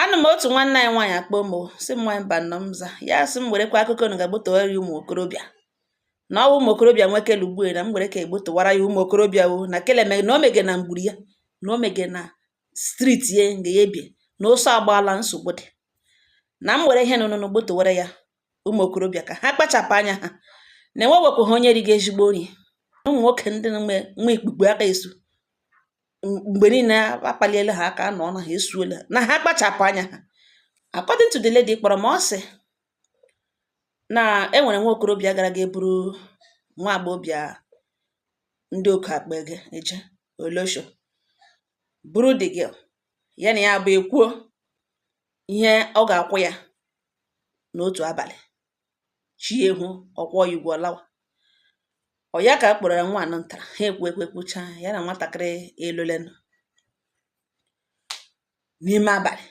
Anụ m otu nwanne anyị nwaanyị akpọ m o, sị m nwaanyị Mbanọ m za ya sị m werekwa akụkọ unu ga-egbo tụwara ya ụmụ okorobịa na ọ wụ ụmụ okorobịa nwe kele ugbue na m were ka egbo tụwara ya ụmụ okorobịa o na kele me na o mege na mgburu ya na o mege na street ya nga ya ebie na ụsọ agbaala nsogbu dị na m were ihe nụnụnụ gbo tụwara ya ụmụ okorobịa ka ha kpachapụ anya ha na enwewepụ ha onye rigo ezigbo nri ụmụ nwoke ndị nwe ikpukpu aka esu mgbe niile akpaliela ha aka na ọ na ha esuola na ha kpachapụ anya ha according to the lady kpọrọ m ọ sị na e nwere nwa okorobịa gara ga eburu nwa agbọghọbịa ndị oke akpa ege eje olosho buru the girl ya na ya abụọ ekwuo ihe ọ ga-akwụ ya n'otu abalị chi eho ọ kwụọ ya ụgwọ ọ lawa ọ ya ka a kpọrọ ya nwa anọ ntara ha ekwu ekwucha ya na nwatakịrị alọlanụ n'ime abalị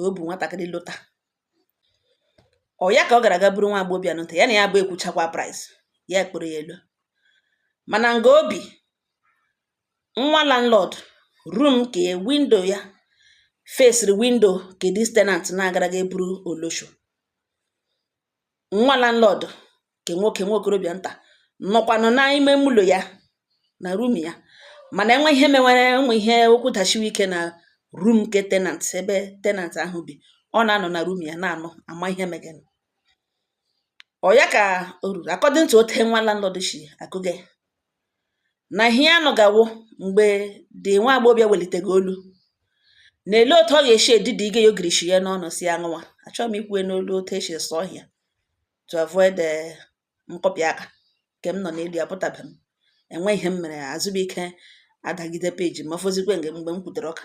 o buru nwatakịrị lọta ọ ya ka ọ gara ga eburu nwa agbọghọbịa nta ya na ya abụọ ekwuchakwa price ya kpọrọ ya alọ mana nga o bi nwa landlord room ke window ya fesiri window ke this tenant na-agara ga eburu olosho nwa landlord ke nwoke nwa okorobịa nta nọkwanụ n'ime ụlọ ya na room ya mana e nwe ihe mewere ụmụ ihe okwu dashiwe ike na room ke tenant ebe tenant ahụ bi ọ na-anọ na room ya na-anọ ama ihe megenụ ọ ya ka o ruru according to ote nwa landlord shi akọge na ihe ya nụga wụ mgbe the nwa agbọghọbịa welitege olu na ele otu ọ ga-eshi edidi ige ya ogirishi ya n'ọnụ sị ya ṅụwa achọghị m ikwu e n'olu otu e shi sụọ ọhịa to avoid eh, nkụpị aka nke m nọ n'elu ya apụtabe m enwe ihe m mere Azụbụike adagide page m ma fọzikwa mgbe m kwutere ọka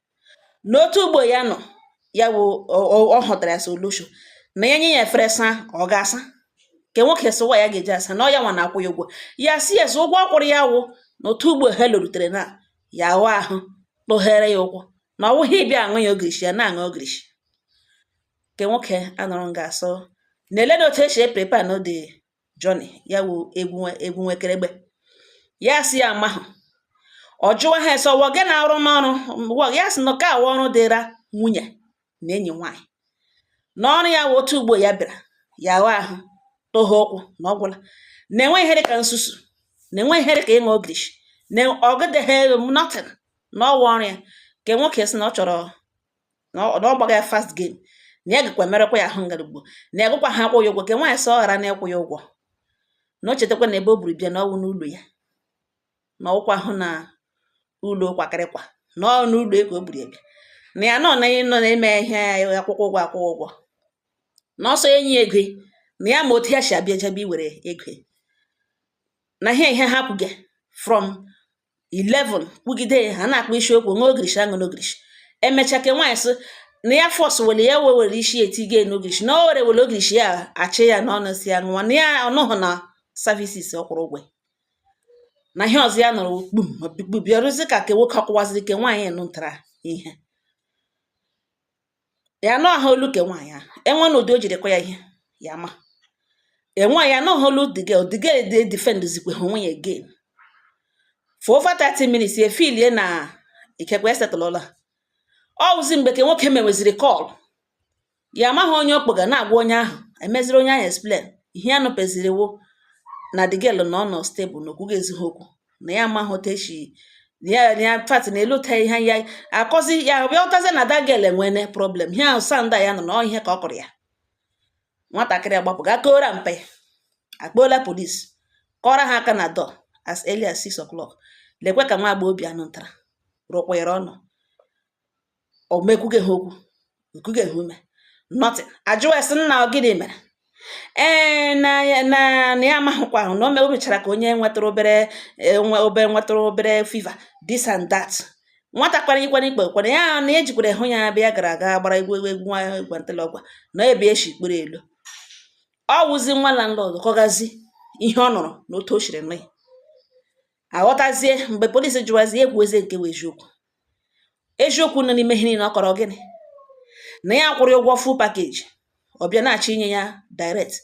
n'otu ugbo ya nọ ya wụ ọ hụtara ya sị olosho na ya nye ya efere saa ọ ga-asa nke nwoke sịwa ya ga-eji asa na ọ ya nwa na-akwụ ya ụgwọ ya sị ya sị ụgwọ ọ kwụrụ ya wụ na otu ugbo ha lọrutere na ya aghụ ahụ toghere ya ụkwụ na ọ wụghị ịbịa aṅụ ya ogirishi ya na-aṅụ ogirishi nke nwoke anọrọ nga a sị na lee na otu e shi eprepa nọ the journey ya wụ egwu egwu nwekeregbe ya sị ya amahụ ọ jụwa ha sị ọ wụ gị na-arụ n'ọrụ wọ ya sị na ka a wụ ọrụ dịra nwunye na enyi nwaanyị na ọrụ ya wụ otu ugbo ya bịara ya aghụọ ahụ toghe ụkwụ na ọ gwụla na enweghị ihe dịka nsusu na enwe ihe dịka ịṅụ ogirishi na ọgịdịghị elu nothing na ọwa ọrụ ya nke nwoke sị na ọ chọrọ na ọ na ọ gbagha ya fast game na ya gakwa merekwa ya ahụ ngarugbo na ya agakwaha akwụ ya ụgwọ ke nwaanyị sị ọ ghara na ịkwụ ya ụgwọ na o chetakwa na ebe o buru bịa na ọ wụ n'ụlọ ya na ọ wụkwahụ na ụlọ kwakịrịkwa na ọ n'ụlọ ya ka o buru ya bịa na ya nọ na ị nọ na-eme ihe akwụkwọ ụgwọ akwụkwọ ụgwọ na ọsọ enyi ego ya, na ya ma otu ya si abịa jebe iwere ego ya. na ihe ihe ha kwuge from 11 kwugide ya ha na-akpa isi okwu nwa ogirishi aṅụ n'ogirishi emecha ke nwaanyị sị na ya force were ya wee were isi etige ya n'ogirishi na o were were ogirishi ya achị ya n'ọnụ sị ya ṅụwa na ya ọ nọhụ na services ọ kwụrụ ụgwọ na ihe ọzọ ya nọrọ kpum bịarụzi ka ke nwoke ọ kụwaziri ke nwaanyị nụtara ihe ya anụhụ olu ke nwaanyị ahụ enwe na ụdị o jiri kụọ ya ihe ya ma enwe ya anụhụ olu the girl the girl dey defend zikwe ha onwe ya again for over 30 minutes ya filie na ikekwe e settlela ọ wụzi mgbe ke nwoke meweziri call ya amaghị onye ọ kpọga na-agwa onye ahụ emeziri onye ahụ explain ihe ya nụpeziri wo na the girl na ọ nọ stable na o kwugezighi okwu na ya amaghị otu esi ya ya fat na elu ta ihe ya akọzi ya bịa hụtazie na that girl enwene problem ihe ahụ sounda ya nọ na ihe ka ọ kụrụ ya nwatakịrị agbapụ ga kọọrọ mpa ya akpọọla police kụọrọ ha aka na door as early as 6 o'clock lekwe ka nwa agbọghọbịa nụtara rụkwere ọnụ o me ekwugehe okwu ekugehe ume nothing ajụwa ya sị nna ọ gịnị mere ee na ya na na ya amahụkwahụ na o me- o mechara ka onye nwetara obere eh, nwe obere nwetara obere fever this and that nwata kwara ikwara ikpe kwara ya na ejikwara hụ ya bịa gara aga gbara egwu nwa gwantala ọgwa na ebe eshi kpere elu ọ wụzi nwa landlord kọgazi ihe ọ nụrụ na otu o siri nụ ya aghọtazie mgbe polisi jụwazie ekwuzie nke wụ eziokwu eziokwu nọ n'ime ihe niile ọ kọrọ gịnị na ya kwụrụ ụgwọ full package ọ bịa na-achọ inye ya direct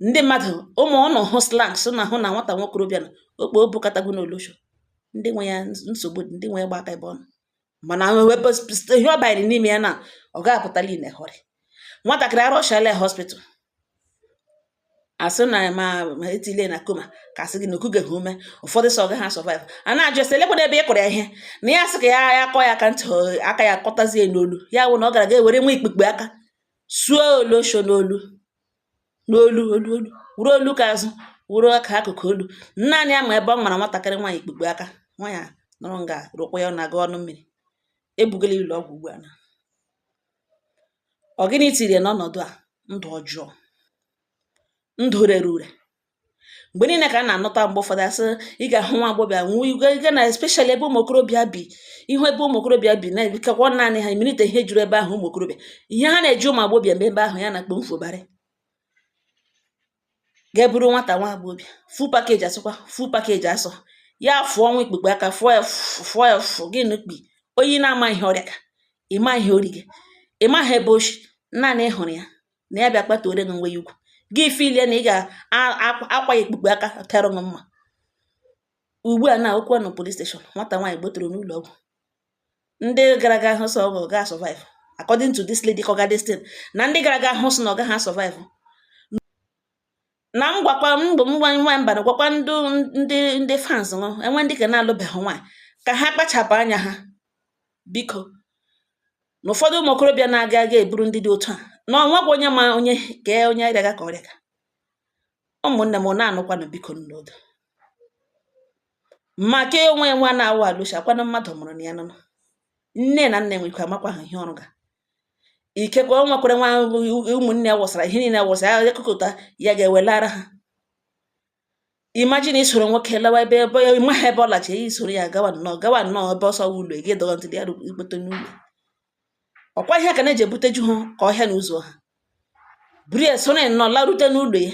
ndị mmadụ ụmụ unu hụ slangs na hụ na nwata nwokorobịa na okpo obukatago n'olosho ndị nwe ya nsogbu ndị nwe ya gba aka ebe ọnụ mana ihe ọ banyere n'ime ya na ọ ga-apụtala in a hurry nwatakịrị a rushala ya hospital asị na ma etile na coma ka asị gị na o kugeghi ume ụfọdụ sị ọ gaha survive a na-ajụ ya sị lekwana ebe ị kụrụ ya ihe na ya sị ka ya ya kụọ ya aka ntị aka ya kụtazie n'olu ya wụ na ọ gara ga ewere nwa ikpukpu aka suo olosho n'olu n'olu olu olu wuru olu ka azụ wuru aka akụkụ olu naanị ya ma ebe ọ mara nwatakịrị nwaanyị ikpukpu aka nwaanyị a nọrọ nga rụkwa ya na-agụ ọnụ mmiri ebugala ụlọ ọgwụ ugbu a na ọ gịnị tiri ya n'ọnọdụ a ndụ ọjọọ ndụ rere ure mgbe niile ka a na-anụta mgbe ụfọdụ asị ị ga-ahụ nwa agbọghọbịa nwee igwe ike na especially ebe ụmụ okorobịa bi ị hụ ebe ụmụ okorobịa bi na-ebikakwa naanị ha imirite ihe juru ebe ahụ ụmụ okorobịa ihe ha na-eji ụmụ agbọghọbịa mgbe ebe ahụ ya na-akpọ mfobara ga-eburu nwata nwa agbọghọbịa full package asụkwa full package asụ ya fụọ nwa ikpukpe aka fụọ ya fụọ ya fụ gị nukpi onye na-ama ihe ọ rịaga ịma ihe ori gị ịmaha ebe o si naanị ị hụrụ ya na ya bịa kpatuore gị nwe ya ugwu gị filie na ị ga-akwa ya ikpukpe aka tara gị mma ugbu a na okwu anọ police station nwata nwaanyị gbotoro n'ụlọ ọgwụ ndị gara aga hụ sị ọ ga survive according to this lady kọga this thing na ndị gara aga hụ sị na ọ gaghị survive na m gwakwa mgbe m nwa mba na gwakwa ndị ndị ndị fans nọ enwe ndị ka na-alụbeghị nwaanyị ka ha kpachapụ anya ha biko na ụfọdụ ụmụ okorobịa na-aga aga eburu ndị dị otu a na ọ nwekwa onye ma onye kee onye rịaga ka ọ rịaga ụmụnne m na-anụkwanụ biko n'odo maka onwe ya nwa na-awụ alụsi akwanụ mmadụ mụrụ na ya nụnụ nne na nna enwekwa amakwaghị ihe ọ rụga ikekwe o nwekwara nwa ụmụnne ya wụsara ihe niile wụsara ya ekụkọta ya ga-ewelara ha imagine i soro nwoke lawa ebe ebe ya ịmaghị ebe ọ lacha ya i soro ya gawa nnọọ gawa nnọọ ebe ọsọ ụlọ gị dọrọ ntị ya ịkpọta n'ụlọ ọ kwa ihe ka na-eji ebute ju ha ka ọhịa na ụzọ ha buru ya soro ya nnọọ larute n'ụlọ ya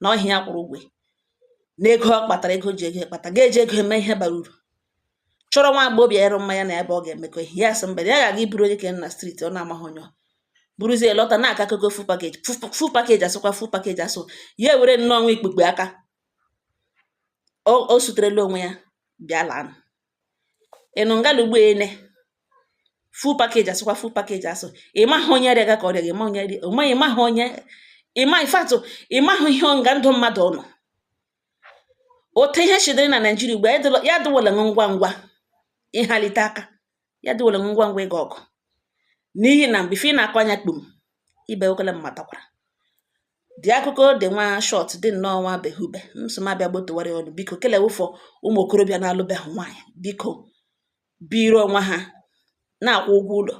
na ọ wụ ya kwụrụ ụgwọ na ego ọ kpatara ego ji ego kpata ga-eji ego eme ihe bara uru chọrọ nwa agbọghọbịa dịrị mma ya na ya abụọ ga-emekọ ihe ya sị mba ya ga-aga iburu onye ke nọ na street ọ na-amaghị onye buruzie lọta na-aka akụkọ full package full package asụkwa full package asụ ya were nnọọ nwa ikpukpe aka o suterela onwe ya bịa laa ị nọ ngalụ ugbu ene full package asịkwa full package asụ ịmaghị onye rịaga ka ọ rịa ịma onye rịa onwe ịmaghị onye ịma ifatụ ịmaghị ihe nga ndụ mmadụ ọnụ otu ihe shi dịrị na Naịjirịa ugbu a ya adịwala ngwa ngwa ịhalite aka ya adịwala ngwa ngwa ịga ọgụ n'ihi na mgbe ife ị na-akọ anya kpum ibe okele m matakwara dị akụkọ dị nwa short dị nnọọ nwa behube m sị m abịa gbotowara unu biko kelewụfọ ụmụ okorobịa na-alụbeghị nwaanyị biko biri onwe ha na-akwụ ụgwọ ụlọ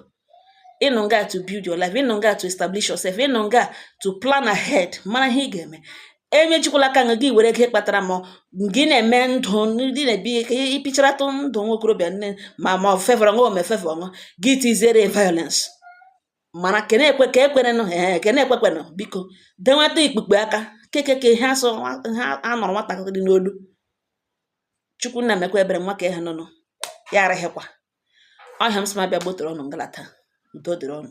ị nọ nga to build your life ị nọ nga to establish yourself ị nọ nga to plan ahead mara ihe ị ga-eme emejikwala aka nga gị were ego kpatara ma gị na-eme ndụ ndị na-ebi ịpịcharatụ ndụ nwa okorobịa nne ma ma fevọrọ nwa ome fevọ nwa gị tiziere violence mana kene ekwe ka ekwenenụ ee kene ekwekwenụ biko denweta ikpukpe aka kekeke ihe asọ ha anụrụ nwatakịrị n'olu Chukwu nna mekwa ebere nwa ka ha nụnụ ya araghịkwa ọhịa m sị m abịa gbotoro unu ngalata udo dịrị unu